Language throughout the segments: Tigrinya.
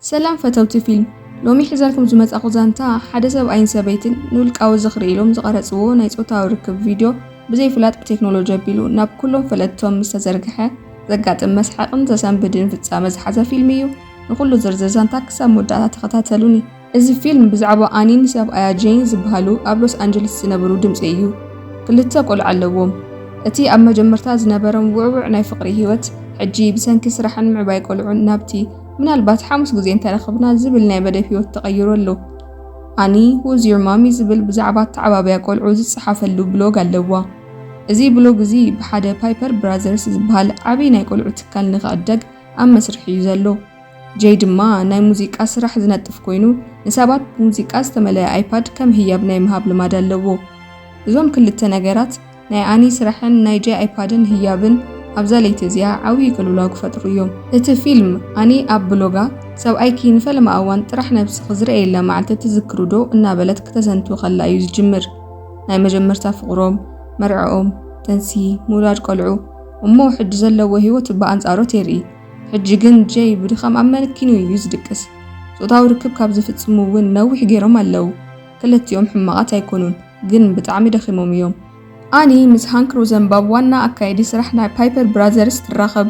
ሰላም ፈተውቲ ፊልም ሎሚ ሒዘልኩም ዝመጻኹ ዛንታ ሓደ ሰብኣይን ሰበይትን ንውልቃዊ ዝኽሪ ኢሎም ዝቐረጽዎ ናይ ጾታዊ ርክብ ቪድዮ ብዘይፍላጥ ብቴክኖሎጂ ኣቢሉ ናብ ኩሎም ፈለጥቶም ምስ ተዘርግሐ ዘጋጥም መስሓቕን ዘሰንብድን ፍጻመ ዝሓዘ ፊልም እዩ። ንኹሉ ዝርዝር ዛንታ ክሳብ መወዳእታ ተኸታተሉኒ። እዚ ፊልም ብዛዕባ ኣኒን ሰብኣያ ጄን ዝበሃሉ ኣብ ሎስ ኣንጀለስ ዝነበሩ ድምጺ እዩ። ክልተ ቆልዓ ኣለዎም። እቲ ኣብ መጀመርታ ዝነበሮም ውዕዉዕ ናይ ፍቕሪ ህይወት፣ ሕጂ ብሰንኪ ስራሕን ምዕባይ ቆልዑን ናብቲ ምናልባት ሓሙስ ግዜ እንተረኸብና ዝብል ናይ በደብ ህይወት ተቐይሩ ኣሎ። ኣኒ ሁዝ ዩር ማሚ ዝብል ብዛዕባ ኣተዓባብያ ቆልዑ ዝጸሓፈሉ ብሎግ ኣለዋ። እዚ ብሎግ እዚ ብሓደ ፓይፐር ብራዘርስ ዝበሃል ዓቢ ናይ ቆልዑ ትካል ንኽዕደግ ኣብ መስርሕ እዩ ዘሎ። ጀይ ድማ ናይ ሙዚቃ ስራሕ ዝነጥፍ ኮይኑ፣ ንሰባት ብሙዚቃ ዝተመልአ ኣይፓድ ከም ህያብ ናይ ምሃብ ልማድ ኣለዎ። እዞም ክልተ ነገራት፣ ናይ ኣኒ ስራሕን ናይ ጀይ ኣይፓድን ህያብን፣ ኣብዛ ለይቲ እዚኣ ዓብዪ ቅልውላው ክፈጥሩ እዮም። እቲ ፊልም፣ ኣኒ ኣብ ብሎጋ፣ ሰብኣይኪ ንፈለማ እዋን ጥራሕ ነብስኺ ዝርኣየላ መዓልቲ ትዝክሪዶ? እናበለት ክተዘንቱ ከላ እዩ ዝጅምር። ናይ መጀመርታ ፍቕሮም፣ መርዕኦም፣ ጥንሲ፣ ምውላድ ቆልዑ፣ እሞ ሕጂ ዘለዎ ህይወት ብኣንጻሮት የርኢ። ሕጂ ግን ጀይ ብድኻም ኣብ መሬት ኪኑ እዩ ዝድቅስ። ጾታዊ ርክብ ካብ ዝፍጽሙ እውን ነዊሕ ጌሮም ኣለው። ክልቲኦም ሕማቓት ኣይኮኑን፣ ግን ብጣዕሚ ደኺሞም እዮም። ኣኒ ምስ ሃንክ ሮዘንባብ ዋና ኣካየዲ ስራሕ ናይ ፓይፐር ብራዘርስ ትራኸብ።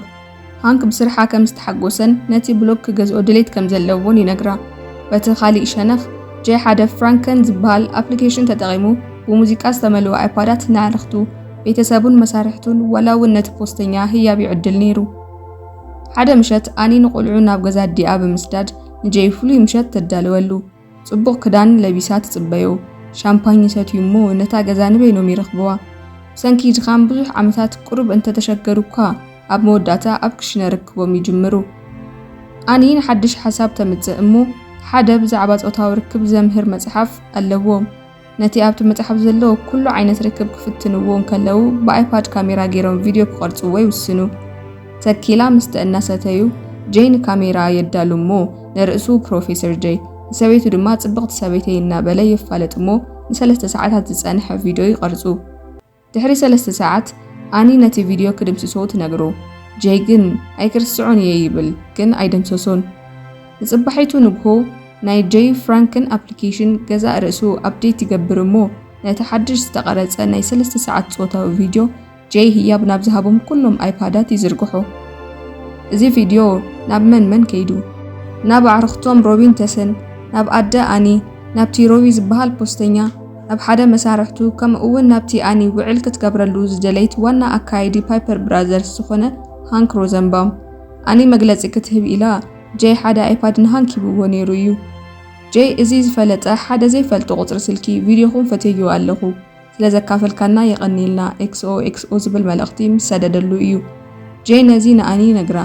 ሃንክ ብስርሓ ከም ዝተሓጎሰን ነቲ ብሎግ ክገዝኦ ድሌት ከም ዘለዎን ይነግራ። በቲ ካልእ ሸነኽ፣ ጀይ ሓደ ፍራንከን ዝበሃል ኣፕሊኬሽን ተጠቒሙ ብሙዚቃ ዝተመልኡ ኣይፓዳት ንኣዕርኽቱ፣ ቤተሰቡን መሳርሕቱን ዋላ እውን ነቲ ፖስተኛ ህያብ ይዕድል ነይሩ። ሓደ ምሸት ኣኒ ንቆልዑ ናብ ገዛ ኣዲኣ ብምስዳድ ንጀይ ፍሉይ ምሸት ተዳልወሉ። ጽቡቕ ክዳን ለቢሳ ትጽበዮ፣ ሻምፓኝ ይሰትዩ እሞ ነታ ገዛ ንበይኖም ይረኽብዋ። ብሰንኪ ድኻም ብዙሕ ዓመታት ቁሩብ እንተተሸገሩ እኳ ኣብ መወዳእታ ኣብ ክሽነ ርክቦም ይጅምሩ። ኣኒ ንሓድሽ ሓሳብ ተምጽእ እሞ ሓደ ብዛዕባ ጾታዊ ርክብ ዘምህር መጽሓፍ ኣለዎም። ነቲ ኣብቲ መጽሓፍ ዘሎ ኩሉ ዓይነት ርክብ ክፍትንዎ እንከለዉ ብኣይፓድ ካሜራ ገይሮም ቪድዮ ክቐርጽዎ ይውስኑ። ተኪላ ምስተ እናሰተዩ ጀይ ንካሜራ የዳሉ እሞ ንርእሱ ፕሮፌሰር ጀይ ንሰበይቱ ድማ ጽብቕቲ ሰበይተይ እናበለ የፋልጥ እሞ ንሰለስተ ሰዓታት ዝጸንሐ ቪድዮ ይቐርጹ። ድሕሪ ሰለስተ ሰዓት ኣኒ ነቲ ቪድዮ ክድምስሶ ትነግሮ፣ ጀይ ግን ኣይክርስዖን እየ ይብል ግን ኣይደምሰሶን። ንጽባሒቱ ንግሆ ናይ ጀይ ፍራንክን ኣፕሊኬሽን ገዛእ ርእሱ ኣፕዴት ይገብር እሞ ነቲ ሓድሽ ዝተቐረጸ ናይ ሰለስተ ሰዓት ጾታዊ ቪድዮ ጀይ ህያብ ናብ ዝሃቦም ኩሎም ኣይፓዳት ይዝርግሖ። እዚ ቪድዮ ናብ መን መን ከይዱ? ናብ ኣዕሩኽቶም ሮቢን ተስን፣ ናብ ኣደ ኣኒ፣ ናብቲ ሮቢ ዝበሃል ፖስተኛ፣ ናብ ሓደ መሳርሕቱ ከምኡ'ውን ናብቲ ኣኒ ውዕል ክትገብረሉ ዝደለይት ዋና ኣካያዲ ፓይፐር ብራዘርስ ዝኾነ ሃንክ ሮዘንባውም ኣኒ መግለጺ ክትህብ ኢላ ጀይ ሓደ ኣይፓድ ንሃንክ ሂብዎ ነይሩ እዩ። ጀይ እዚ ዝፈለጠ ሓደ ዘይፈልጦ ቁጽሪ ስልኪ ቪድዮኹም ፈትየዮ ኣለኹ ስለ ዘካፈልካና የቐንየልና XOXO ዝብል መልእኽቲ ምስ ሰደደሉ እዩ ጀይ ነዚ ንኣኒ ይነግራ።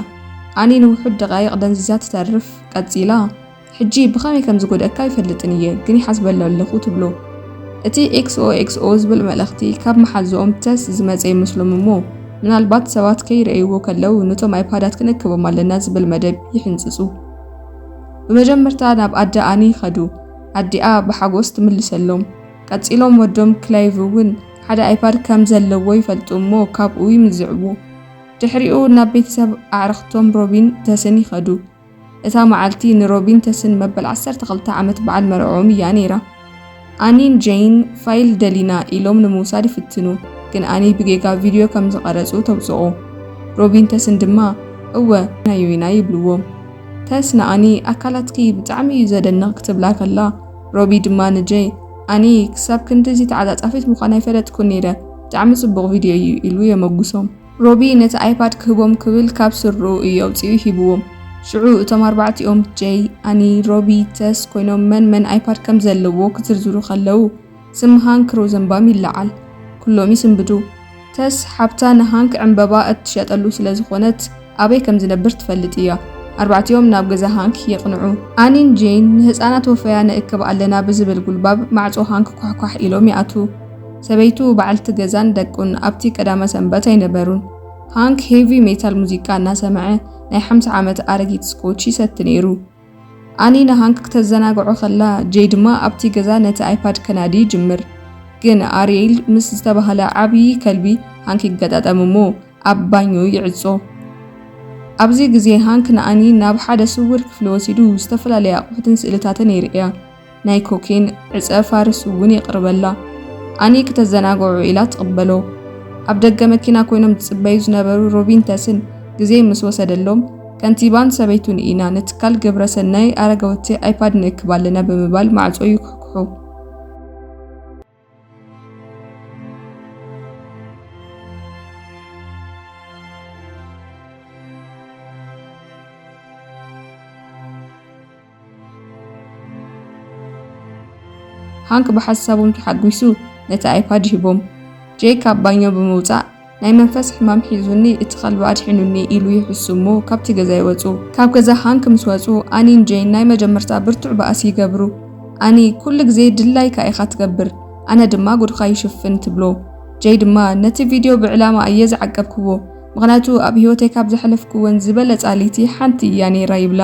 ኣኒ ንውሑድ ደቓይቕ ደንዚዛ ትተርፍ። ቀጺላ። ሕጂ ብኸመይ ከም ዝጎድኣካ ኣይፈልጥን እየ፣ ግን ይሓስበሉ ኣለኹ ትብሎ። እቲ ኤክስኦኤክስኦ ዝብል መልእኽቲ ካብ መሓዝኦም ተስ ዝመጸ ይመስሎም እሞ፣ ምናልባት ሰባት ከይርእይዎ ከለዉ ነቶም ኣይፓዳት ክንእክቦም ኣለና ዝብል መደብ ይሕንጽጹ። ብመጀመርታ ናብ ኣደ ኣኒ ከዱ። ኣዲኣ ብሓጎስ ትምልሰሎም። ቀጺሎም ወዶም ክላይቭ እውን ሓደ ኣይፓድ ከም ዘለዎ ይፈልጡ እሞ ካብኡ ይምዝዕዎ። ድሕሪኡ ናብ ቤተሰብ ኣዕርኽቶም ሮቢን ተስን ይኸዱ። እታ መዓልቲ ንሮቢን ተስን መበል ዓሰርተ ክልተ ዓመት በዓል መርዕኦም እያ ነይራ። ኣኒን ጀይን ፋይል ደሊና ኢሎም ንምውሳድ ይፍትኑ፣ ግን ኣኒ ብጌጋ ቪድዮ ከም ዝቐረጹ ተውጽኦ። ሮቢን ተስን ድማ እወ ናዩ ኢና ይብልዎም። ተስ ንኣኒ ኣካላትኪ ብጣዕሚ እዩ ዘደንቕ ክትብላ ከላ፣ ሮቢ ድማ ንጀይ ኣኒ ክሳብ ክንድዚ ተዓጻጻፊት ምዃን ኣይፈለጥኩን ነይረ፣ ብጣዕሚ ጽቡቕ ቪድዮ እዩ ኢሉ የመጉሶም። ሮቢ ነቲ ኣይፓድ ክህቦም ክብል ካብ ስርርኡ እዩ ኣውጺኡ ሂብዎም። ሽዑ እቶም ኣርባዕቲኦም፣ ጀይ፣ ኣኒ፣ ሮቢ፣ ተስ፣ ኮይኖም መን መን ኣይፓድ ከም ዘለዎ ክዝርዝሩ ከለዉ ስም ሃንክ ሮዘንባም ይለዓል። ኩሎም ይስንብዱ። ተስ፣ ሓብታ ንሃንክ ዕንበባ እትሸጠሉ ስለ ዝኾነት ኣበይ ከም ዝነብር ትፈልጥ እያ። ኣርባዕቲኦም ናብ ገዛ ሃንክ የቕንዑ። ኣኒን ጀይን ንህጻናት ወፈያ ንእክብ ኣለና ብዝብል ጉልባብ ማዕጾ ሃንክ ኳሕኳሕ ኢሎም ይኣትዉ። ሰበይቱ፣ በዓልቲ ገዛን ደቁን ኣብቲ ቀዳመ ሰንበት ኣይነበሩን። ሃንክ ሄቪ ሜታል ሙዚቃ እናሰምዐ ናይ ሓምሳ ዓመት ኣረጊት ስኮች ይሰቲ ነይሩ። ኣኒ ንሃንክ ክተዘናግዖ ከላ፣ ጄይ ድማ ኣብቲ ገዛ ነቲ ኣይፓድ ከናዲ ይጅምር። ግን ኣርየል ምስ ዝተባህለ ዓብዪ ከልቢ ሃንክ ይገጣጠም እሞ ኣብ ባኞ ይዕጾ። ኣብዚ ግዜ ሃንክ ንኣኒ ናብ ሓደ ስዉር ክፍሊ ወሲዱ ዝተፈላለየ ኣቑሑትን ስእልታትን የርእያ። ናይ ኮኬን ዕጸ ፋርስ እውን የቕርበላ። ኣኒ ክተዘናግዑ ኢላ ትቕበሎ። ኣብ ደገ መኪና ኮይኖም ዝጽበዩ ዝነበሩ ሮቢን ተስን ግዜ ምስ ወሰደሎም፣ ከንቲባን ሰበይቱን ኢና ንትካል ግብረ ሰናይ ኣረገወቲ ኣይፓድ ንእክብ ኣለና ብምባል ማዕጾ ይኩሕኩሑ። ሃንክ ብሓሳቦም ተሓጒሱ ነቲ ኣይፓድ ሂቦም ጄክ ኣብ ባኞ ብምውጻእ ናይ መንፈስ ሕማም ሒዙኒ እቲ ከልቢ ኣድሒኑኒ ኢሉ ይሕሱ እሞ ካብቲ ገዛ ይወጹ። ካብ ገዛ ሃንክ ምስ ወጹ ኣኒን ጄይን ናይ መጀመርታ ብርቱዕ ባእሲ ይገብሩ። ኣኒ ኩሉ ግዜ ድላይካ ኢኻ ትገብር ኣነ ድማ ጉድኻ ይሽፍን ትብሎ። ጄይ ድማ ነቲ ቪድዮ ብዕላማ እየ ዝዓቀብክዎ ምኽንያቱ ኣብ ህይወተይ ካብ ዘሕለፍክወን ዝበለጻ ልይቲ ሓንቲ እያ ነይራ ይብላ።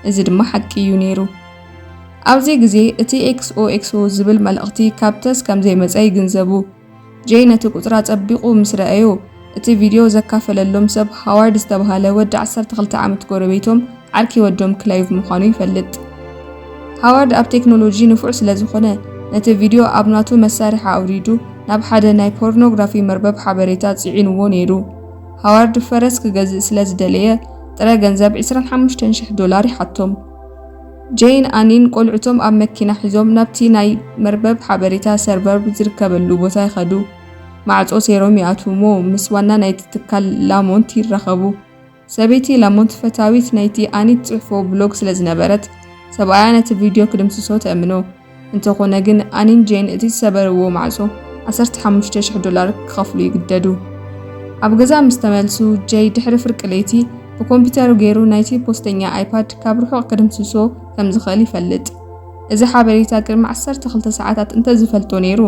እዚ ድማ ሓቂ እዩ ነይሩ። ኣብዚ ግዜ እቲ ኤክስኦኤክስኦ ዝብል መልእኽቲ ካብ ተስ ከምዘይመጸ ይግንዘቡ። ጄይ ነቲ ቁጽሪ ኣጸቢቑ ምስ ረኣዮ፣ እቲ ቪድዮ ዘካፈለሎም ሰብ ሃዋርድ ዝተባህለ ወዲ ዓሰርተ ክልተ ዓመት ጎረቤቶም፣ ዓርኪ ወዶም ክለይቭ ምዃኑ ይፈልጥ። ሃዋርድ ኣብ ቴክኖሎጂ ንፉዕ ስለ ዝዀነ፣ ነቲ ቪድዮ ኣብ ናቱ መሳርሒ ኣውሪዱ ናብ ሓደ ናይ ፖርኖግራፊ መርበብ ሓበሬታ ጽዒንዎ ነይሩ። ሃዋርድ ፈረስ ክገዝእ ስለ ዝደለየ፣ ጥረ ገንዘብ ዕስራን ሓሙሽተን ሽሕ ዶላር ይሓቶም። ጄይን ኣኒን ቈልዑቶም ኣብ መኪና ሒዞም ናብቲ ናይ መርበብ ሓበሬታ ሰርቨር ዝርከበሉ ቦታ ይኸዱ። ማዕጾ ሰይሮም ይኣትዉ እሞ ምስ ዋና ናይቲ ትካል ላሞንት ይራኸቡ። ሰበይቲ ላሞንት ፈታዊት ናይቲ ኣኒ ትጽሕፎ ብሎግ ስለ ዝነበረት፣ ሰብኣያ ነቲ ቪድዮ ክድምስሶ ትእምኖ። እንተኾነ ግን ኣኒን ጄን እቲ ዝሰበርዎ ማዕጾ ዓሰርተ ሓሙሽተ ሽሕ ዶላር ክኸፍሉ ይግደዱ። ኣብ ገዛ ምስ ተመልሱ፣ ጄይ ድሕሪ ፍርቂ ለይቲ ብኮምፒተሩ ገይሩ ናይቲ ፖስተኛ ኣይፓድ ካብ ርሑቕ ክድምስሶ ከም ዝኽእል ይፈልጥ። እዚ ሓበሬታ ቅድሚ ዓሰርተ ክልተ ሰዓታት እንተ ዝፈልጦ ነይሩ፣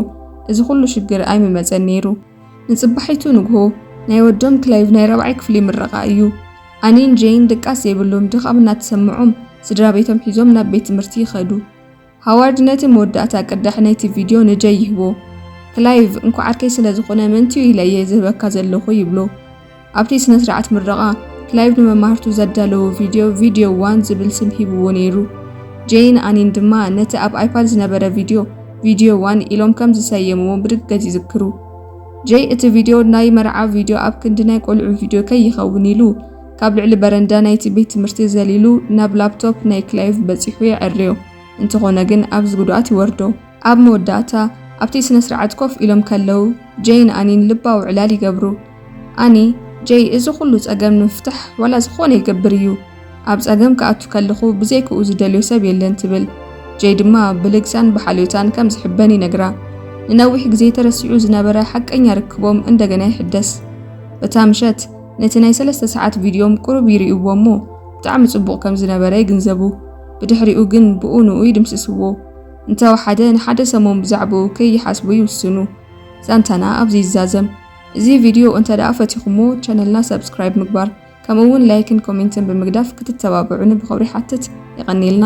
እዚ ኹሉ ሽግር ኣይምመጸን ነይሩ። ንጽባሒቱ ንግሆ፣ ናይ ወዶም ክለይቭ ናይ ራብዓይ ክፍሊ ምረቓ እዩ። ኣኒን ጄይን ድቃስ ዘይብሎም ድኻም እናተሰምዖም ስድራቤቶም ሒዞም ናብ ቤት ትምህርቲ ይኸዱ። ሃዋርድ ነቲ መወዳእታ ቅዳሕ ናይቲ ቪድዮ ንጀይ ይህቦ። ክላይቭ፣ እንኳዕ ዓርከይ ስለ ዝዀነ መንቲኡ ኢለ እየ ዝህበካ ዘለኹ ይብሎ። ኣብቲ ስነ-ስርዓት ምረቓ፣ ክላይቭ ንመማህርቱ ዘዳለዎ ቪድዮ ቪድዮ ዋን ዝብል ስም ሂብዎ ነይሩ። ጄይን ኣኒን ድማ ነቲ ኣብ ኣይፓድ ዝነበረ ቪድዮ ቪድዮ ዋን ኢሎም ከም ዝሰየምዎ ብርግጽ ይዝክሩ። ጄይ እቲ ቪድዮ ናይ መርዓ ቪድዮ ኣብ ክንዲ ናይ ቈልዑ ቪድዮ ከይኸውን ኢሉ፣ ካብ ልዕሊ በረንዳ ናይቲ ቤት ትምህርቲ ዘሊሉ ናብ ላፕቶፕ ናይ ክላይቭ በጺሑ የዐርዮ። እንተኾነ ግን ኣብዚ ጉድኣት ይወርዶ። ኣብ መወዳእታ ኣብቲ ስነስርዓት ኮፍ ኢሎም ከለዉ ጄይን ኣኒን ልባዊ ዕላል ይገብሩ። ኣኒ፣ ጄይ እዚ ኩሉ ጸገም ንምፍታሕ ዋላ ዝኾነ ይገብር እዩ። ኣብ ጸገም ክኣቱ ከለኹ ብዘይክኡ ዝደልዮ ሰብ የለን ትብል። ጄይ ድማ ብልግሳን ብሓልዮታን ከም ዝሕበን ይነግራ። ንነዊሕ ግዜ ተረሲዑ ዝነበረ ሓቀኛ ርክቦም እንደገና ይሕደስ። በታ ምሸት ነቲ ናይ ሰለስተ ሰዓት ቪድዮም ቁሩብ ይርእይዎ እሞ ብጣዕሚ ጽቡቕ ከም ዝነበረ ይግንዘቡ። ብድሕሪኡ ግን ብኡ ንኡ ይድምስስዎ። እንተ ወሓደ ንሓደ ሰሙን ብዛዕብኡ ከይሓስቡ ይውስኑ። ዛንታና ኣብዚ ይዛዘም። እዚ ቪድዮ እንተ ደኣ ፈቲኹሞ ቻነልና ሳብስክራይብ ምግባር ከምኡ ውን ላይክን ኮሜንትን ብምግዳፍ ክትተባብዑኒ ብኽብሪ ይሓትት። የቐንየልና።